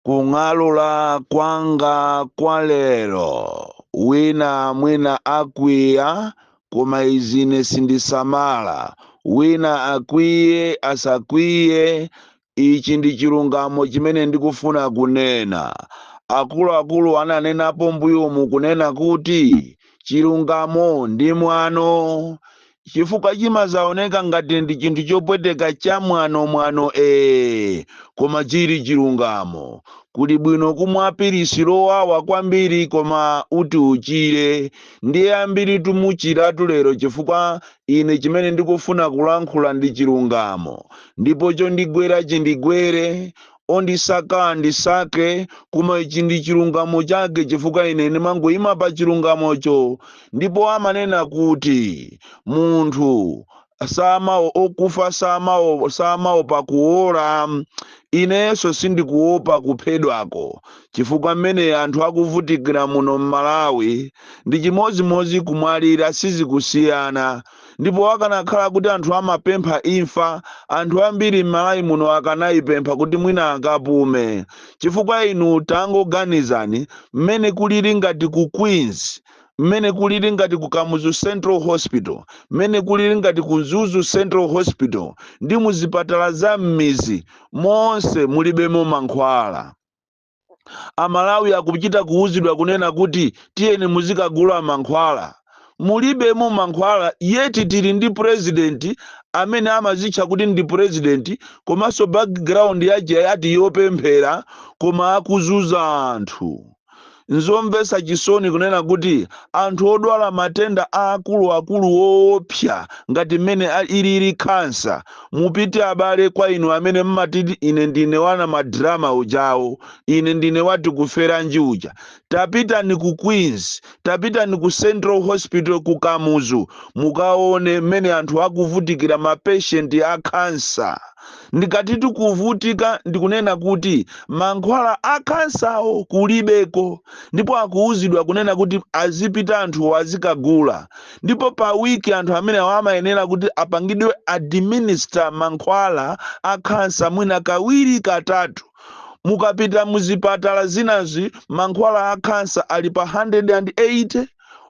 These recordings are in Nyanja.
kung'alula kwanga kwa lero wina mwina akwiya koma izi ine sindisamala wina akwiye asakwiye ichi ndi chilungamo chimene ndikufuna kunena akuluakulu ananenapo mbuyomu kunena kuti chilungamo ndi mwano chifukwa chimazaoneka ngati ndi chinthu chopweteka cha mwano mwano ee koma chili chilungamo kuli bwino kumwa pilisi lowawa kwambiri koma uti uchire ndiye ambiri timuchiratu lero chifukwa ine chimene ndikufuna kulankhula ndi chilungamo ndipo chondigwera chindigwere Ondisaka andisake, koma ichi ndi chilungamo chake chifukwa ine ndimangoima pa chilungamocho. Ndipo amanena kuti munthu samao okufa samaopa kuola. Inenso sindikuopa kuphedwako chifukwa mmene anthu akuvutikira muno m'Malawi ndi chimodzimodzi kumwalira sizikusiyana. Ndipo akanakhala kuti anthu amapempha imfa, anthu ambiri m'Malawi muno akanaipempha kuti mwina akapume. Chifukwa inu tangoganizani mmene kulili ngati ku Queens, mmene kulili ngati ku Kamuzu Central Hospital, mmene kulili ngati ku Mzuzu Central Hospital ndi mu zipatala za m'mizi monse mulibemo mankhwala. amalawi akuchita kuuzidwa kunena kuti tiyeni muzikagula mankhwala mulibemo mankhwala yeti tili ndi president amene amazitcha kuti ndi president komanso background yache ati yopemphera koma akuzunza anthu nzomvetsa chisoni kunena kuti anthu odwala matenda akuluakulu woopsa ngati mmene a- ilili khansa Mupite abale kwa inu amene mmatiti ine ndine wa madrama ujawo, ine ndine wa Tikuferanji uja. Tapitani ku Queens, tapitani ku Central Hospital ku Kamuzu mukaone mmene anthu akuvutikira ma patient a cancer. Ndikatitu kuvutika ndikunena kuti mankhwala a cancer wo kulibeko ndipo akuuzidwa kunena kuti azipita anthuwo azikagula. ndipo pa week anthu amenewa amayenera kuti apangidwe administer mankhwala a khansa mwina kawiri katatu mukapita muzipatala zinazi mankhwala a khansa ali pa 180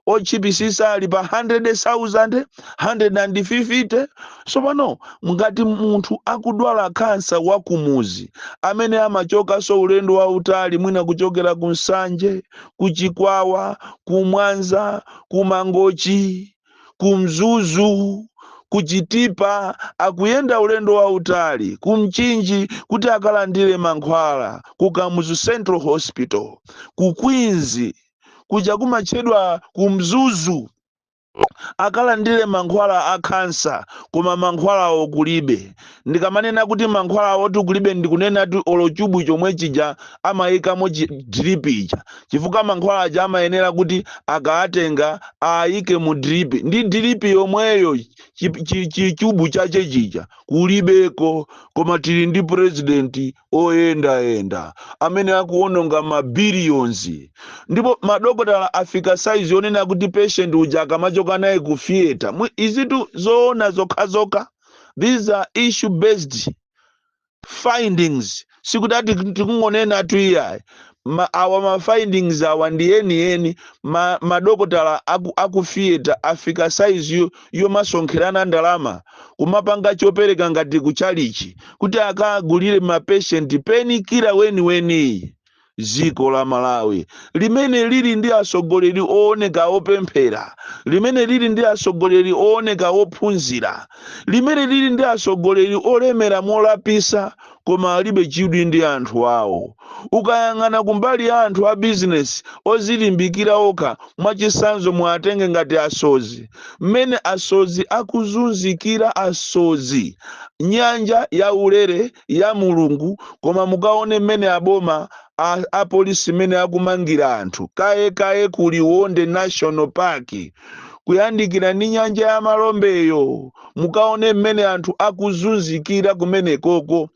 otchipisisa ali pa 100,000 150 so pano ngati munthu akudwala khansa wakumuzi amene amachokaso ulendo wautali mwina kuchokera ku nsanje ku chikwawa ku mwanza ku Mangochi, ku Mzuzu, ku Chitipa, akuyenda ulendo wautali ku Mchinji kuti akalandire mankhwala ku Kamuzu Central Hospital, ku Queens, kuja kumatchedwa ku Mzuzu, akalandire mankhwala a khansa koma mankhwalawo kulibe. Ndikamanena kuti mankhwalawotu kulibe ndikunenatu olo chubu chomwe chija amaikamo chi drip ija chifukwa mankhwala aja amayenera kuti akaatenga aaike mu drip ndi drip yomweyo chi, chi, chi chubu chache chija kulibeko koma tili ndi president oyendayenda amene akuononga ma billions ndipo madokotala afika size yonena kuti patient uja akamachoka naye ku theater mwi- izitu zoona zokhazokha these are issue based findings sikuti ati tikungonenatu iyayi ma, awa ma findings awa ndi yeniyeni ma, madokotala aku, aku theater afika size yo, yomasonkherana ndalama kumapanga chopereka ngati kuchalichi kuti akagulire mapeshenti pain killer weniweniyi dziko la malawi limene lili ndi atsogoleri ooneka opemphera limene lili ndi atsogoleri ooneka ophunzira limene lili ndi atsogoleri olemera molapisa koma alibe chidwi ndi anthu awo ukayang'ana kumbali ya anthu a bizinesi ozilimbikira okha mwachitsanzo muatenge ngati asodzi mmene asodzi akuzunzikira asodzi nyanja ya ulere ya mulungu koma mukaone mmene aboma a apolisi mmene akumangira anthu kaye kaye ku liwonde national park kuyandikira ndi nyanja ya malombeyo mukaone mmene anthu akuzunzikira kumenekoko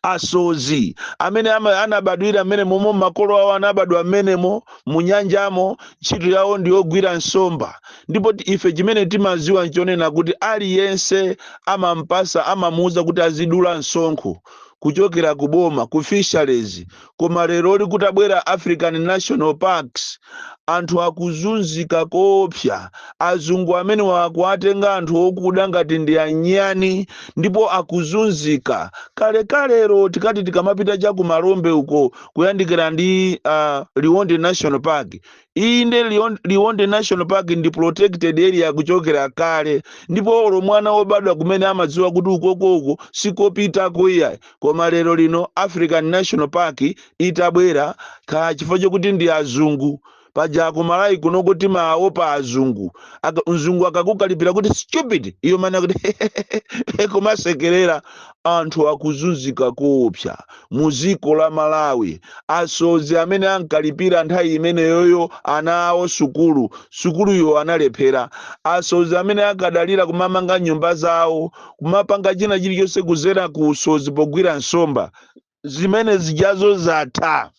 asodzi amene ama- anabadwira mmenemomo makolo awo anabadwa mmenemo mu nyanjamo ntchito yawo ndiyogwira nsomba Ndipo ti, ife chimene timadziwa nchonena kuti aliyense amampatsa, amamuuza kuti azidula msonkho kuchokera ku boma, ku Fisheries, koma leroli kutabwera African National Parks, anthu akuzunzika koopsa, azungu amenewa akuwatenga anthu okuda ngati ndi anyani ndipo akuzunzika. Kalekalelo tikati tikamapita cha ku Malombe uko kuyandikira ndi, uh, Liwonde National Park, Inde, Lion- Liwonde National Park ndi protected area kuchokera kale, ndipo olo mwana wobadwa kumene amadziwa kuti uko uko sikopitako iyayi. Koma lero lino African National Park itabwera, kaya chifukwa chokuti ndi azungu, paja ku Malawi kunoko timaopa azungu. Aka, mzungu akakukalipira kuti stupid, iwe umanena kuti kumasekerera. Anthu akuzunzika koopsa mu ziko la Malawi. Asodzi amene ankalipira nthawi imeneyoyo ana awo sukulu, sukuluyo analephera. Asodzi amene ankadalira kumamanga nyumba zawo, kumapanga china chilichonse kuzera ku usodzi pogwira nsomba, zimene zijazo zatha.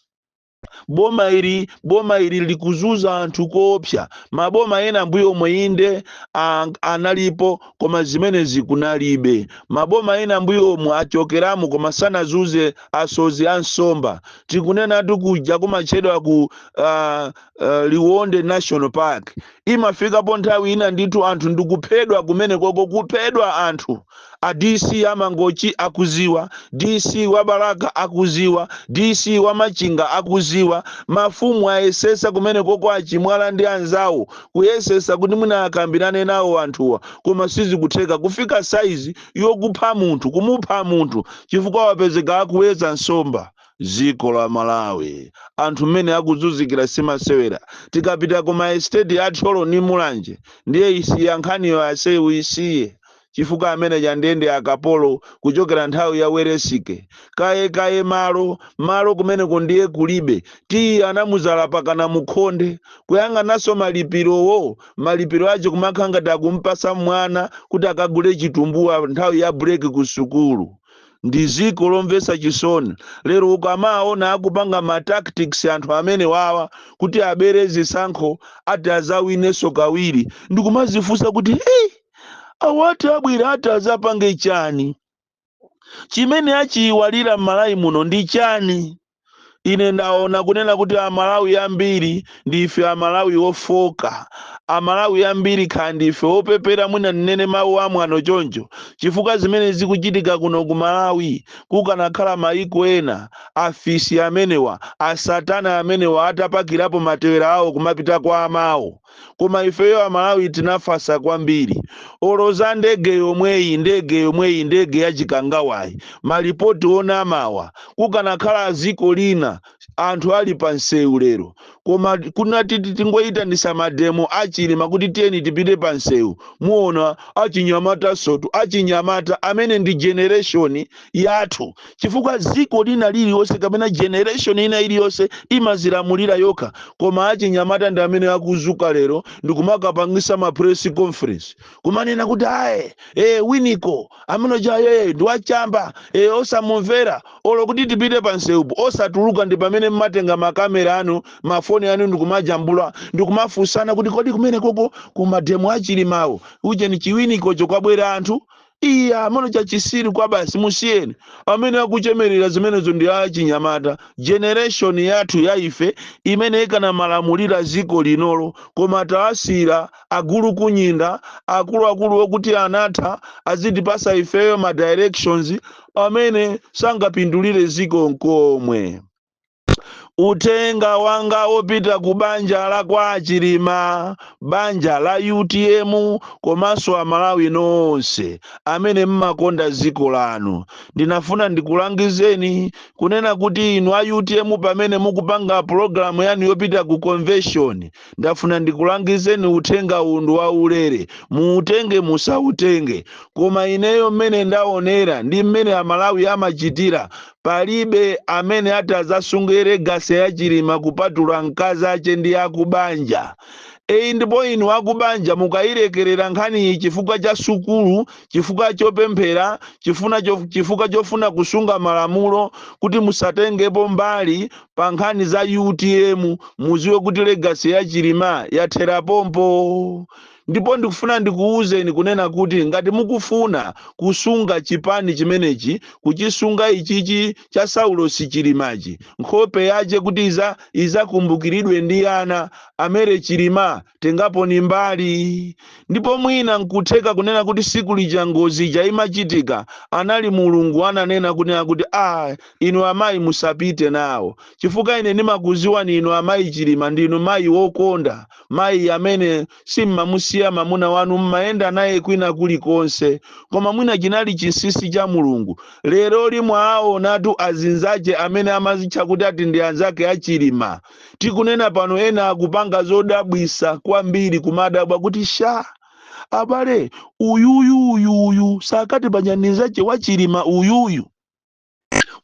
boma ili boma ili likuzuza anthu koopsa maboma ena mbuyomu inde a- analipo koma zimenezi kunalibe maboma ena mbuyomu achokeramo koma sanazuze asozi a nsomba tikunenatu kuja kumatchedwa ku uh, uh, liwonde national park imafikapo nthawi ina ndithu anthu ndikuphedwa kumenekoko kuphedwa anthu a DC a Mangochi akuziwa DC wa Balaka akuziwa DC wa Machinga akuziwa mafumu ayesesa kumenekoko a Chimwala ndi anzawo kuyesesa kuti mwina akambirane nawo anthuwa koma sizikutheka kufika saizi yokupha munthu kumupha munthu chifukwa wapezeka akuwedza nsomba Dziko la Malawi anthu mmene akuzunzikira simasewera, tikapita ku ma estate a Thyolo ni Mulanje ndiye isiya nkhaniyo aise uisiye chifukwa ameneja ndiye ndi akapolo kuchokera nthawi ya Welesike kaye kaye malo malo kumeneko ndiye kulibe tiyi anamuzala pakana mukhonde kuyang'anaso malipilowo malipilo ache kumakhala ngati akumpasa mwana kuti akagule chitumbuwa nthawi ya break ku sukulu ndi ziko lomvesa chisoni lero ukamaona akupanga ma tactics anthu amene wawa kuti abere zisankho ati azawineso kawiri ndikumazifunsa kuti hey, awa ati abwere ati azapange chani chimene achiyiwalira m'malawi muno ndi chani Ine ndaona kunena kuti Amalawi ambiri ndife Amalawi ofoka. Amalawi ambiri kaya ndife opepera mwina ndinene mawu amwano choncho chifukwa zimene zikuchitika kuno ku Malawi kukanakhala mayiko ena afisi amenewa, asatana amenewa atapakirapo matewera awo kumapita kwa amawo. koma ifeyo amalawi tinafasa kwambiri olo za ndege yomweyi ndege yomweyi ndege ya Chikangawayi malipoti onamawa kukanakhala aziko lina anthu ali pa nsewu lero koma kunati ti tingoyitanisa mademo a Chilima kuti tiyeni tipite pa nsewu muona achinyamata sotu achinyamata amene ndi generation yathu chifukwa ziko lina lililonse kapena generation ina iliyonse imazilamulira yokha koma achinyamata ndi amene akuzuka lero ndikumakapangisa ma press conference kumanena kuti ayi e, Winiko ameneujayu ndi wachamba e, osamumvera olo kuti tipite pa nseupo osatuluka ndi pamene mmatenga makamera anu mafoni anu ndikumajambula ndikumafunsana kuti kodi kumene koko kumademo a Chilimawo ujeni chiwinikocho kwabwera anthu Iya, amene chachisiru kwabasi musiyeni amene akuchemerera zimenezo ndi a chinyamata generation yathu ya ife imene ikanamalamulira ziko linolo koma taasiira agulukunyinda akuluakuluwo kuti anatha azitipasa ifeyo ma directions amene sangapindulire ziko nkomwe. Uthenga wanga opita ku banja la kwa a Chilima, banja la utm komanso a Malawi nonse amene mmakonda ziko lanu. Ndinafuna ndikulangizeni kunena kuti inu a utm pamene mukupanga program yanu yopita ku convention, ndafuna ndikulangizeni uthenga uwu ndi wa ulere, muutenge musautenge. Koma ineyo mmene ndaonera ndi mmene a Malawi amachitira, Palibe amene atazasunge legacy ya chilima kupatula nkazache ndi akubanja eyi ndipo inu akubanja mukayilekelera nkhaniyi chifukwa cha sukulu chifukwa chopemphera chifukwa chof, chifukwa chofuna kusunga malamulo kuti musatengepo mbali pa nkhani za utm muziwe kuti legacy ya chilima yathera pompo ndipo ndikufuna ndikuwuzeni kunena kuti ngati mukufuna kusunga chipani chimenechi kuchisunga ichichi cha saulosi chilimachi nkhope yache kuti iza izakumbukiridwe ndi ana a mary chilima tengaponi mbali ndipo mwina nkutheka kunena kuti siku lija ngozi ija imachitika anali mulungu ananena kunena kuti a inu amayi musapite nawo chifukwa ine ndimakuziwani inu amayi chilima ndinu mayi wokonda mayi amene simmamusiya mamuna wanu mmayenda naye kwina kulikonse koma mwina chinali chinsinsi cha mulungu leroli mwawaonatu azinzake amene amazitcha kuti ati ndi anzake a chilima tikunena pano ena akupanga zodabwisa kwambiri kumadabwa kuti sha abale uyuyu uyuyu sakati panyanizache wa chilima uyuyu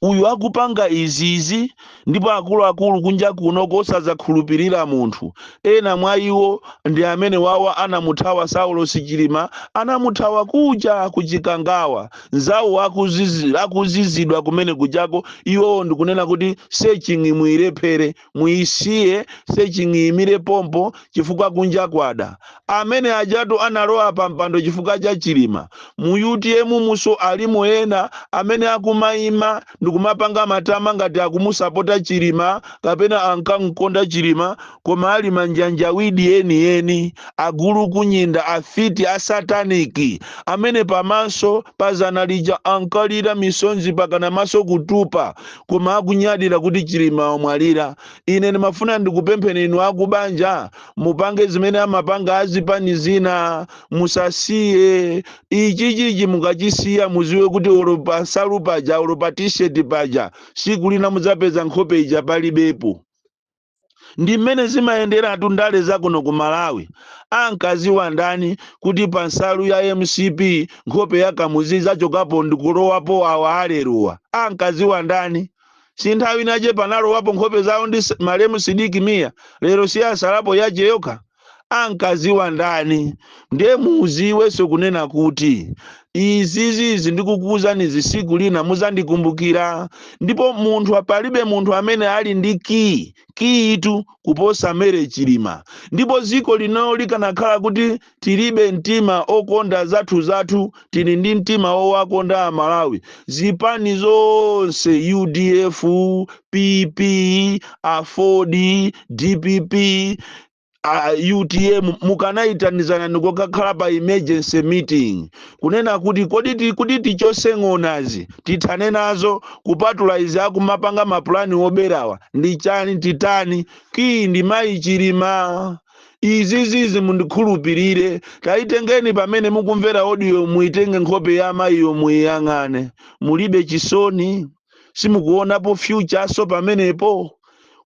uyu akupanga izizi ndipo akuluakulu kunja kuno kosazakhulupirira munthu ena mwa iwo ndi amene awa anamuthawa saulosi chilima anamuthawa kuja ku chikangawa nzawo akuzizi- akuzizidwa kumene kujako iwowo ndikunena kuti searching muilephere muyisiye searching iyimire pompo chifukwa kunja kwada. Amene ajatu analowa pa mpando chifukwa cha Chilima. Mu utm munso alimo ena amene akumayima ndikumapanga matama ngati akumusapota Chilima kapena ankamkonda Chilima koma ali manjanjawidi eni eni, agulukunyinda, afiti, a satanic amene pamaso pa zana lija ankalira misonzi pakana maso kutupa. koma akunyadira kuti Chilima wamwalira ine ndimafuna ndikupempheni inu akubanja mupange zimene amapanga azipani zina musasiye ichichichi mukachisiya muziwe kuti olo pa nsalu paja olo pa t-shirt paja siku lina mudzapeza nkhope ija palibepo ndi mmene zimayenderatu ndale za kuno ku malawi ankaziwa ndani kuti pa nsalu ya mcp nkhope ya kamuzu izachokapo ndikulowapo awa aleruwa ankaziwa ndani si nthawi inayake panalowapo nkhope zawo ndi s- malemu sidiki miya lero si yasalapo yache yokha ankaziwa ndani ndiye muziwenso kunena kuti izizizi ndikukuwuzanizi siku lina muzandikumbukira ndipo munthu palibe munthu amene ali ndi kiyi kiyitu kuposa mere chilima ndipo ziko lino likanakhala kuti tilibe mtima okonda zathu zathu tili ndi mtima wowakonda amalawi zipani zonse udf pp aford dpp a utm mukanayitanizana ndikokakhala pa emergency meeting kunena kuti kodi ti- kuti tichose ng'onazi tithane nazo kupatula izi akumapanga mapulani oberawa ndi chani titani kiyi ndi mayi chilima izizizi mundikhulupirire tayitengeni pamene mukumvera odiyo muyitenge nkhope ya amayiyo muyiyang'ane mulibe chisoni simukuonapo fyuchanso pamenepo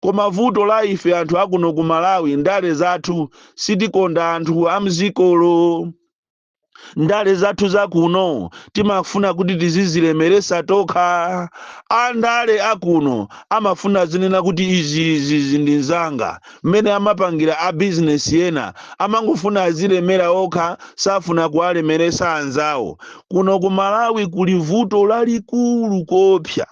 koma vuto la ife anthu akuno ku malawi ndale zathu sitikonda anthu amzikolo ndale zathu zakuno timafuna kuti tizizilemeresa tokha andale akuno amafuna azinena kuti izi zi ndi zanga mmene amapangira a bizinesi ena amangofuna azilemera okha safuna kuwalemeresa anzawo kuno ku malawi kuli vuto lalikulu koopsa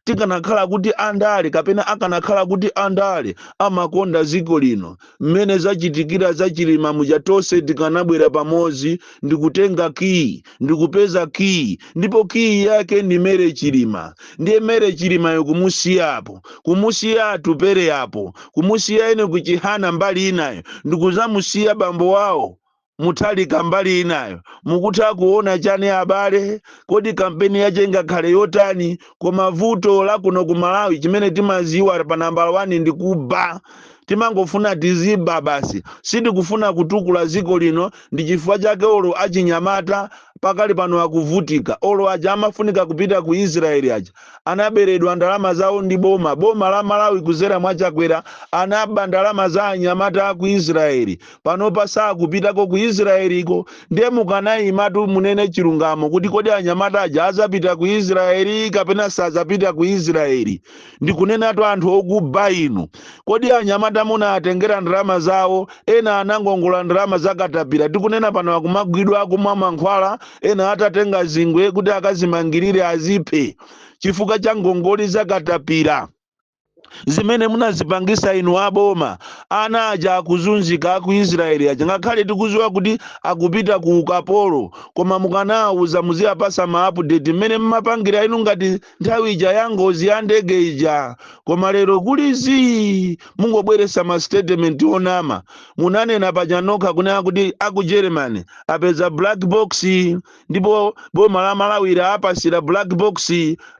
tikanakhala kuti andale kapena akanakhala kuti andale amakonda dziko lino mmene zachitikira za chilima muja tonse tikanabwera pamodzi ndikutenga kiyi ndikupeza kiyi ndipo kiyi yake ndi mere chilima ndiye mere chilimayo kumusiyapo kumusiya atupele apo kumusiya enoki chihana mbali inayo ndikuzamusiya bambo wawo Muthalika mbali inayo mukutha kuona chani abale? Kodi kampeni yache ingakhale yotani? Koma vuto la kuno ku Malawi chimene timaziwa pa nambala wani ndi kuba. Timangofuna tiziba basi. Sitikufuna kutukula dziko lino ndi chifukwa chake olo achinyamata pakali pano akuvutika. Olo aja amafunika kupita ku Israel aja anaberedwa ndalama zawo ndi boma. Boma la Malawi kudzera mwa Chakwera anaba ndalama za anyamata aku Israel. panopa sakupitako ku israeliko ndiye mukanayimatu munene chilungamo kuti kodi anyamata aja azapita ku israeli kapena sazapita ku israeli ndikunenatu anthu okuba inu kodi anyamata munaatengera ndalama zawo ena anangongola ndalama zakatapira tikunena pano akumagwidwa akumwa mankhwala ena atatenga zingwe kuti akazimangirire aziphe chifukwa cha ngongoli zakatapira zimene munazipangisa inu aboma ana aja akuzunzika aku israeli aja ngakhale tikuziwa kuti akupita ku ukapolo koma mukanawawuza muziyapasa ma update mmene mmapangira inu ngati nthawi ija ya ngozi ya ndege ija koma lero kuli zii mungobweresa ma statement onama munanena paja nokha kunena kuti aku germany apeza black box ndipo boma la malawi laapasira black box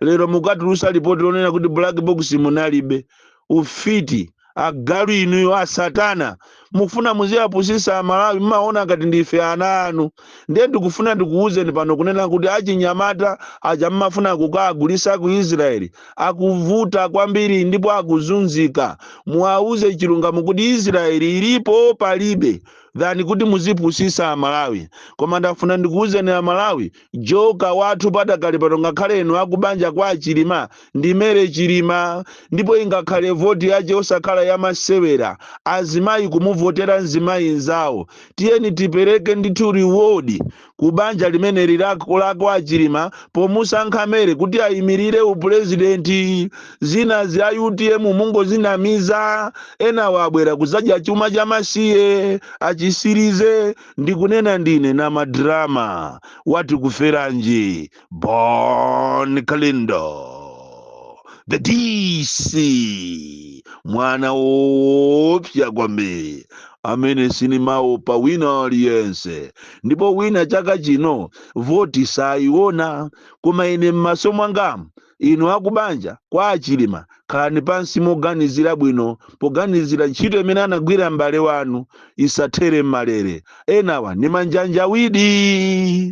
lero mukatulusa lipoti lonena kuti black box munalibe ufiti agalu inuyo asatana mufuna muziyapusisa amalawi mmaona ngati ndife ana anu ndiye ndikufuna ndikuwuzeni pano kunena kuti achinyamata aja mmafuna kukagulisa ku israeli akuvuta kwambiri ndipo akuzunzika muwauze chilungamo kuti israeli ilipo palibe than kuti muzipusisa amalawi koma ndafuna ndikuwuzeni amalawi joker wathu padakali pano ngakhale inu akubanja kwa achilima ndi mary chilima ndipo ingakhale voti yache osakhala yamasewera azimayi kumuvotera mzimayi nzawo tiyeni tipereke ndithu reward ku banja limeneli la kwa chilima pomusankha mary kuti ayimirire upulezidenti zinazi a utm mungozinamiza enawa abwera kuzadya chuma cha masiye achisirize ndikunena ndine na madrama wati kuferanji Bon Kalindo, the DC, mwana woopsa kwambiri amene sinimaopa wina aliyense ndipo wina chaka chino voti sayiona koma ine m'maso mwangamu inu akubanja kwa achilima khalani pansi moganizira bwino poganizira ntchito imene anagwira m'bale wanu isathere m'malere enawa ni manjanjawidi